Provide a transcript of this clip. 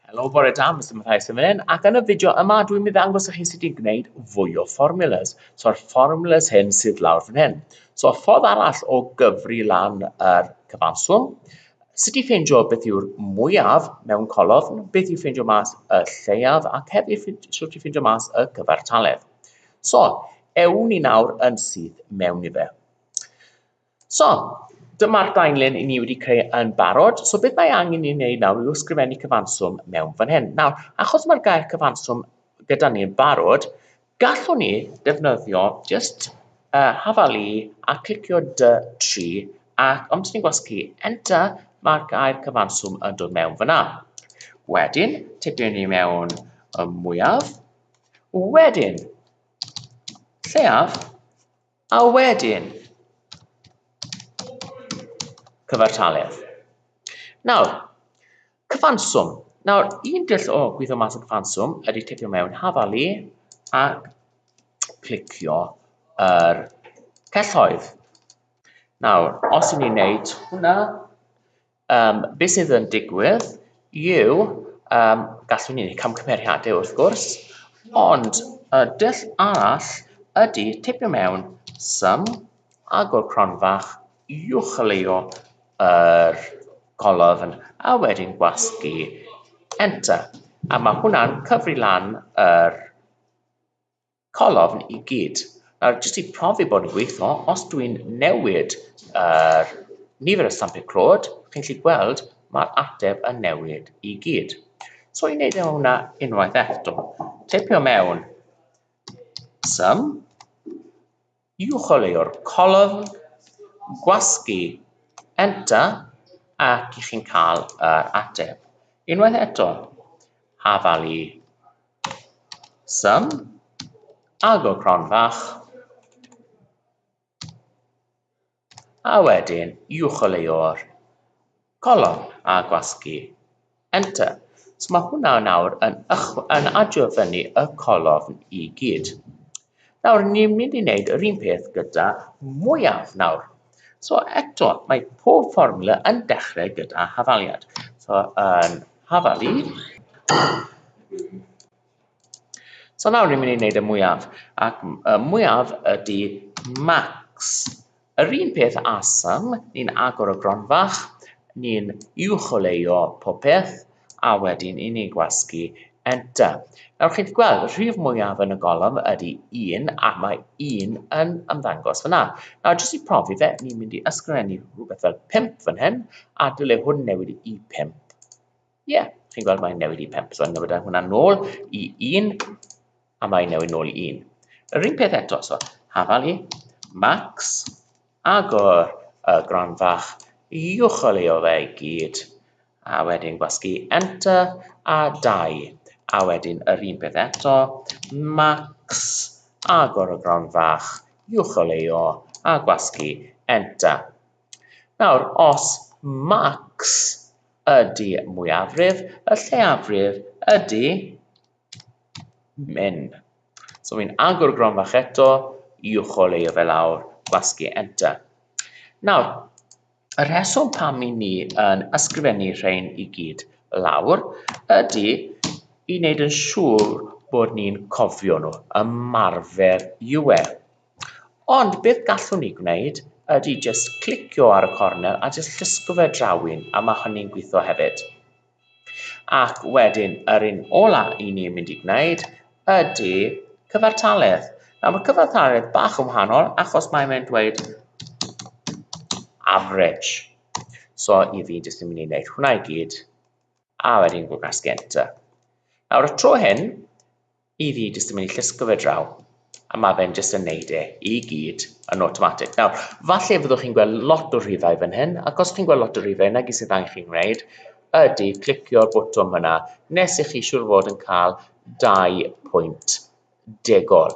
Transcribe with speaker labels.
Speaker 1: Helo, bore da, Mr Matthias yn fan hyn, ac yn y fideo yma dwi'n mynd i ddangos i chi sut i'n gwneud fwy o formulas. So'r formulas hyn sydd lawr fan hyn. So ffordd arall o gyfri lan yr cyfanswm, sut i ffeindio beth yw'r mwyaf mewn colofn, beth i ffeindio mas y lleiaf, ac hefyd sut i ffeindio mas y cyfartaledd. So, ewn ni nawr yn syth mewn i fe. So, dyma'r daenlen i ni wedi creu yn barod. So, beth mae angen i ni wneud nawr yw ysgrifennu cyfanswm mewn fan hyn. Nawr, achos mae'r gair cyfanswm gyda ni yn barod, gallwn ni ddefnyddio just uh, hafalu a clicio dy tri ac ond ni'n gwasgu enter mae'r gair cyfanswm yn dod mewn fyna. Wedyn, tipyn ni mewn y mwyaf Wedyn, lleiaf, a wedyn, cyfartaledd. Nawr, cyfanswm. Nawr, un dull o gwyddo mas o cyfanswm ydy tipio mewn hafalu a clicio yr er celloedd. Nawr, os ydyn ni'n neud hwnna, Um, be sydd yn digwydd yw, um, gallwn ni wneud camgymeriadau wrth gwrs, ond y dull arall ydy tipio mewn sym, agor cronfach, uwcholeuo yr golofn a wedyn gwasgu enter. A mae hwnna'n cyfri lan yr call ofn i gyd. Nawr, jyst i profi bod yn gweithio, os dwi'n newid yr uh, nifer y stampiau clod, chi'n gallu gweld mae'r ateb yn newid i gyd. So i wneud e hwnna unwaith eto, teipio mewn sum, yw chwaraewr colofn, gwasgu, enter ac i chi'n cael yr ateb. Unwaith eto, hafalu sum, agor cron fach, A wedyn i ucheleuo'r colofn a gwasgu enter. So mae hwnna nawr yn, yn adio fyny y colofn i gyd. Nawr, ni'n mynd i wneud yr un peth gyda mwyaf nawr. So eto, mae pob fformula yn dechrau gyda hafaliad. So yn hafalu, So nawr ni'n mynd i wneud y mwyaf, ac y mwyaf ydy max. Yr un peth â sum, ni'n agor y gronfach, ni'n uwcholeuo popeth, a wedyn i ni'n gwasgu enter. Nawr chi'n gweld, y rhif mwyaf yn y golofn ydy 1, a mae 1 yn ymddangos fyna. Nawr, jyst i profi fe, ni'n mynd i ysgrifennu rhywbeth fel 5 fan hyn, a dyle hwn newid i 5. Ie, yeah, chi'n gweld mae'n newid i 5, so yn newid hwnna nôl i 1, a mae'n newid nôl i 1. Yr un peth eto, so hafal i, max, agor y gron fach, iwchol ei o fe i gyd, a wedyn gwasgu enter a 2, a wedyn yr un peth eto, max, agor y gron fach, iwchol ei o, a gwasgu enter. Nawr, os max Ydy mwyafrif y lleiafrif ydy min. So fi'n agor y gron fach eto i ucholeio fe lawr, gwasgu enter. Nawr, y rheswm pam i ni yn ysgrifennu rhain i gyd lawr ydy i wneud yn siŵr bod ni'n cofio nhw, ymarfer yw e. Ond beth gallwn ni gwneud ydy jyst clicio ar y cornel a jyst llusgo fe draw un a mae hynny'n gwitho hefyd. Ac wedyn yr un ola i ni'n mynd i gwneud ydy cyfartaledd. Nawr mae cyfartaledd bach yn wahanol achos mae mae'n dweud average. So i fi jyst yn mynd i wneud hwnna i gyd a wedyn gwrdd gas genta. Nawr y tro hyn, I fi jyst yn mynd i llusgo fe draw, a mae fe'n jyst yn neud e i gyd yn automatic. Nawr, falle fyddwch chi'n gweld lot o rhifau fan hyn, ac os chi'n gweld lot o rhifau yna, gyd sydd angen chi'n gwneud ydy clicio'r botwm yna, nes i chi siŵr fod yn cael dau pwynt degol.